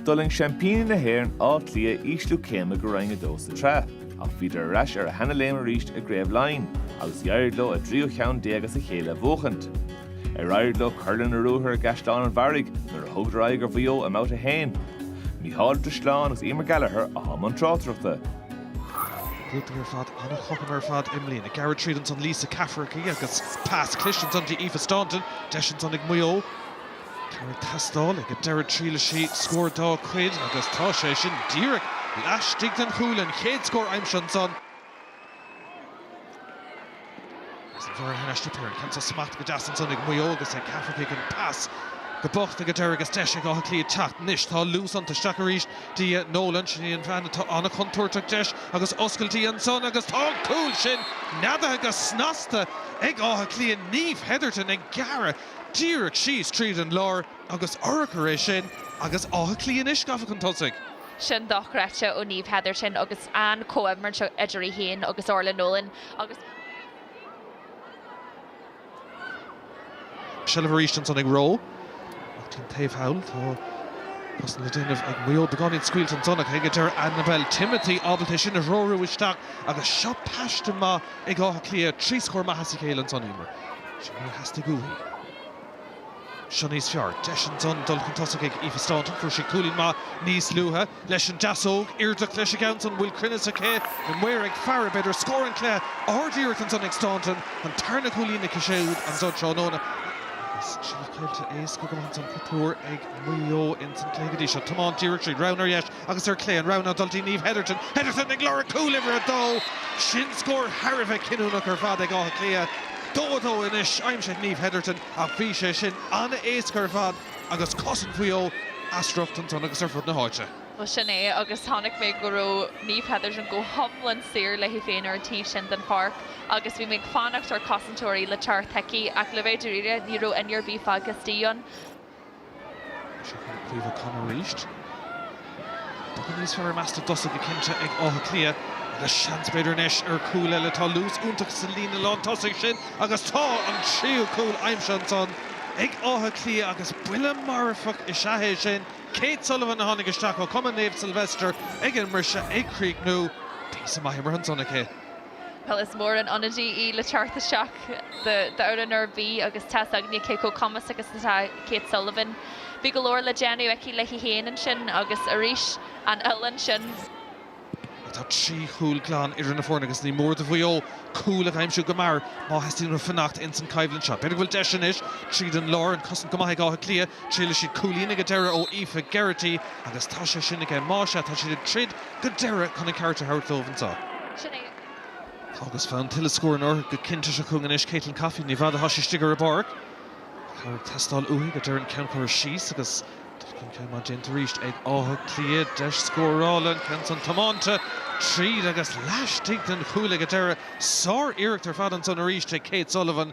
D'fhulaing seaimpíní na hÉireann Áth Cliath ísliú céime go Roinn 2 sa tsraith ach bhíodar ar ais ar a seana-léim arís i gcraobh Laighean agus d'éirigh leo a dtríú cheann déag as a chéile a bhuachaint. Ar éirigh leo cur lena ruathar i gCaisleán an Bharraigh nuair a thugadar aghaidh ar Mhaigh Eo i mBabhta 1? Micheál de Sleán agus Emer Gallagher a thóg an tráchtaireachta. Grúpa ar fad an-chothrom ar fad i mbliana. Ag gearradh tríd ansan Lisa Cafferky agus pas cliste ansan di Aoife Staunton. Deis ansan ag Maigh Eo. Cad atá ag teastáil ag an deireadh triaileann sí scór dá cuid agus tá sé sin díreach laistigh den chúil, an chéad scór aimsithe ansan agus an bheirt thar n-ais sa péire. Ceann sa smacht go deas ansan ag Maigh Eo agus ag Cafferky, an pas go bocht ag an deireadh agus deis ag Áth Cliath teacht anois. Tá luas iontu. Isteach arís di Nolan, sin í an bhean atá an-chontúirteach deis agus oscailte ansan agus tá an cúl sin neadaithe go snasta ag Áth Cliath, Niamh Hetherton ag gearradh. Díreach síos tríd an lár agus urchar é sin agus Áth Cliath anois gafa chun tosaigh. Sin dochreidte ó Niamh Hetherton agus an comhimirt idir í féin agus Orla Nolan agus. Seilbh arís ansan ag Roe ach taobh taobh thall tá cosaint le déanamh ag Mayo. Beagáinín scaoilte ansan ach ag deireadh Annabelle Timothy ábalta é sin a threorú isteach agus seo paiste maith. ag Áth Cliath trí scór maith as a chéile ansan Emer. Sin mar a theastaigh uaithi. Seo níos fearr. Deis ansan dul chun tosaigh ag Aoife Staunton. Fuair sí cúilín maith níos luaithe leis an deasóg. Iarracht leis an gceann san an bhfuil cruinneas aici an maor ag faire. B'fhéidir scór an cluiche ard-iarracht ansan ag Staunton. An tarna cúilín aici siúd ansan tráthnóna agus trí caillte éasca go maith ansan. Patuar ag Maigh Eo ins an cluiche go dtí seo. Tiomáint díreach tríd. Rogha ar dheis. Agus ar chlé, an rogha ná dul go dtí Niamh Hetherton. Hetherton ag lorg cúl uimhir a dó. Sin scór thar a bheith cinniúnach ar fad ag Áth Cliath. Dó a dó anois aimsithe ag Niamh Hetherton ach bhí sé sin an-éasca ar fad agus cosaint Mhaigh Eo as riocht ansan agus ar fud na háite. Bhuel, sin é agus chonaic mé go raibh Niamh Hetherton go hiomlán saor léi féin ar an taobh sin den pháirc agus bhí mé ag fanacht ar cosainteoirí le teacht chuici ach le bheith dáiríre ní raibh éinne ar bith fágtha istigh ann. Seo chugainn Caoimhe O'Connor arís. Beagán níos fearr i measc na dtosaithe go cinnte ag Áth Cliath. Agus seans b'fhéidir anois ar chúl eile. Tá luas iontach sa líne lántosaigh sin agus tá an tríú cúl aimsithe ansan ag Áth Cliath agus buille marfach is ea é sin. Kate Sullivan a tháinig isteach ó chumann Naomh Sylvester ag an mbriseadh ag críochnú. Píosa maith imeartha ansan aici. Bhuel is mór an ionadaí í le teacht isteach d'fhoireann ar bith agus tá 's againne cé chomh cumasach is atá Kate Sullivan. Bhí go leor le déanamh aici léi féin ansin agus arís an uillinn sin. Tá trí chúl glan idir na foirne agus ní mór do Mhaigh Eo cúil a aimsiú go mear má theastaíonn uathu fanacht ins an choimhlint seo. B'fhéidir go bhfuil deis anois tríd an lár, an cosaint go maith ag Áth Cliath. Triaileann siad cúilín ag an deireadh ó Aoife Geraghty agus tá sé sin aige. Muise, tá siad ag troid. go deireadh chun a ceart a thabhairt dóibh Niamh. Tá agus fonn tuilleadh scóranna orthu go cinnte chugainn anois. Caitlín Coffey, ní fada atá sí istigh ar an bpáirc. Tá cabhair ag teastáil uaithi go deireadh an ceann curtha síos agus dul chun cinn maith déanta arís ag Áth Cliath. Deis scórála, an ceann san tiomáinte tríd agus laistigh den chuaille go deireadh. Sár-iarracht ar fad ansan arís ag Kate Sullivan.